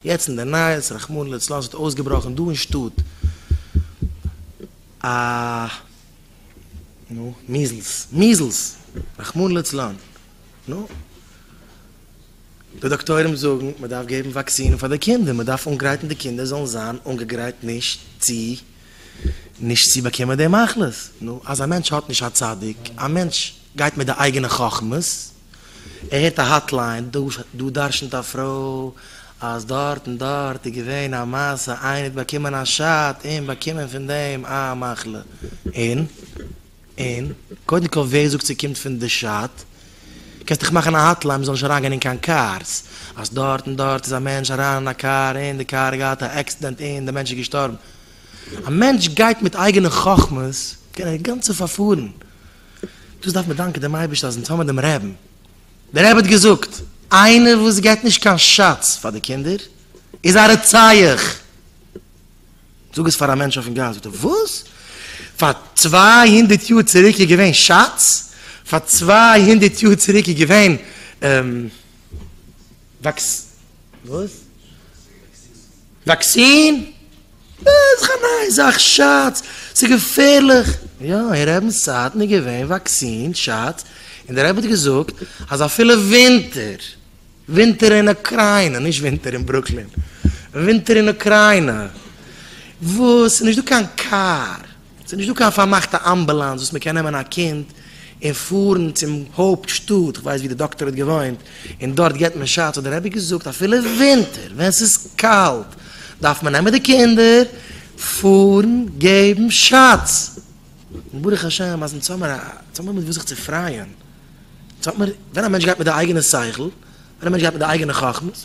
יעצט אין די נייעס, רחמנא לצלן, ס'האט אויסגעבראכן דא אין שטאט א נו, מיזלס, מיזלס! רחמנא לצלן! נו, די דאקטוירים זאגן מ'דארף געבן וואקסינען פאר די קינדער, מ'דארף אנגרייטן די קינדער זאלן זיין אנגעגרייט נישט צו נישט צו באקומען די מחלות, נו, אז א מענטש האט נישט א צדיק, א מענטש גייט מיט די אייגענע חכמות, ער הערט א האטליין, דא דרשנ'ט א פרוי אז דארט און דארט איז געווען א מעשה, איינער האט באקומען א שאט און באקומען פון דעם א מחלה, און? און? קודם כל ווער זאגט ס'קומט פון די שאט? קענסט דאך מאכן א האטליין מ'זאל נישט אריינגיין אין קיין קארס, אז דארט און דארט איז א מענטש אריין אין א קאר און די קאר האט געהאט א עקסידענט און די מענטש איז געשטארבן. א מענטש גייט מיט אייגענע חכמות קען ער גאנצע פארפארן. דאס דארף מען דאנקען דעם אייבערשטן אז אונז האבן דעם רעבן, דער רבי האט געזאגט, איינער וואס געבט נישט קיין שאץ פאר די קינדער איז א רוצח! זאג עס פאר א מענטש אויפן גאס זאגט ער, וואס? פאר צוויי הונדערט יאר צוריק איז געווען שאץ? פאר צוויי הונדערט יאר צוריק איז געווען. וואקסין? איז דאך א נייע זאך, שאטס, ס'איז געפערליך. יא, אין רעבינ'ס צייטן איז געווען וואקסין, שאטס, און דער רבי האט געזאגט אז אפילו ווינטער, ווינטער אין אוקריינע, נישט ווינטער אין ברוקלין, ווינטער אין אוקריינע, וואס ס'איז נישטא קיין קאר, ס'איז נישט דא קיין פארמאכטע אמבולאנס וואס מ'קען נעמען א קינד און פארן צום הויפט שטאט, איך ווייס ווי די דאקטער האט געוואוינט, און דארט גיבט מען שאטס, האט דער רבי געזאגט אפילו ווינטער ווען ס'איז קאלט דארף מען נעמען די קינדער פארן געבן שאטס, און ברוך השם אז אונז האמיר האמיר מיט וואס זיך צו פרייען, אונז האמיר, ווען א מענטש גייט מיט די אייגענע שכל, ווען א מענטש גייט מיט די אייגענע חכמות,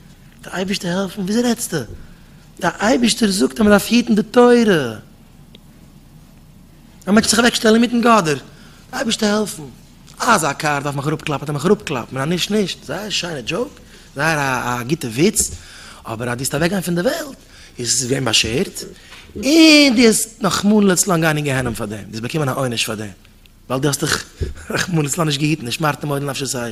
די אייבערשטער העלפן? וויאזוי רעדסטו? די אייבערשטער זאגט אז מען דארף היטן די תורה. א מענטש זיך אוועק שטעלן אינמיטן גאדער, די אייבערשטער העלפן? אזא קאר דארף מען אראפ קלאפן, האט ער מיך אראפ קלאפן, און א נישט נישט, זייער א שיינע דזשאוק, זייער א גוטע וויץ, אבער אז דו האסט אוועק גיין פון די וועלט, איז עס געווען באשערט, און דו האסט רחמנא לצלן גיין אין גיהנום פאר דעם, דו האסט באקומען א עונש פאר דעם, ווייל דו האסט דיך רחמנא לצלן נישט געהיטן, ושמרתם מאוד לנפשותיכם.